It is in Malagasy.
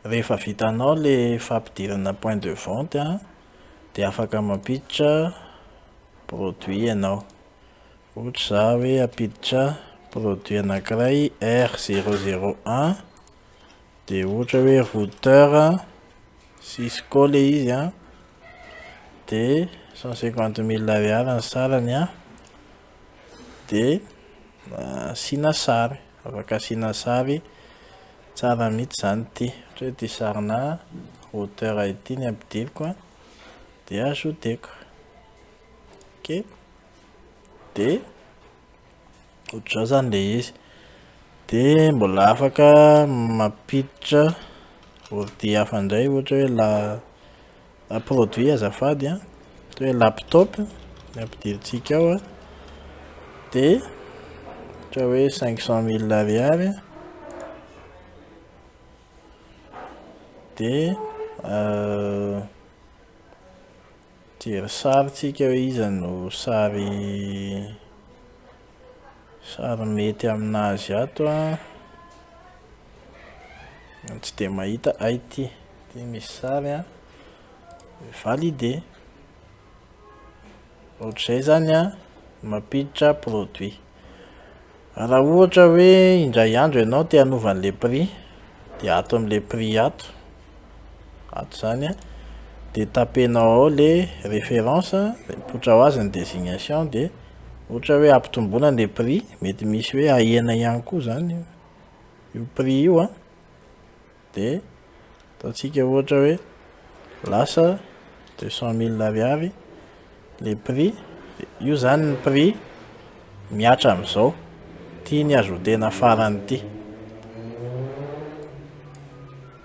Rehefa vitanao ilay fampidirana point de vente an, dia afaka mampiditra produit ianao. Ohatra za hoe hampiditra produit anankiray R zero zero un, dia ohatra hoe routeur Cisco ilay izy an, dia cent cinquante mille ariary ny sarany an, dia asiana sary. Afaka asiana sary tsara mitsy zany ity. Ohatra hoe ity sarinà hauteur ity ny ampidiriko a, de ajouteko. Ok. De ohatr'izao zany le izy. De mbola afaka mampiditra ordi hafa ndray ohatra hoe la. Produit azafady an, toy hoe laptop ny ampidirintsika ao an, dia ohatra hoe cinq cent mille ariary an, dia jery sary tsika hoe iza no sary. Sarimihety aminazy ato an! Tsy dia mahita ay ity. Ity misy sary an! Valider. Ohatr'izay izany an! Mampiditra produit. Raha ohatra hoe indray andro ianao te hanova an'ilay prix dia ato amin'ilay prix ato ato zany a de tapenao ao le référence de mipoitra ho azy ny désignation de ohatra hoe ampitomboina le prix mety misy hoe ahena ihany koa zany io prix io a de ataontsika ohatra hoe lasa deux cent mille ariary le prix de io zany ny prix miatra am'izao tiany ajoutena farany ty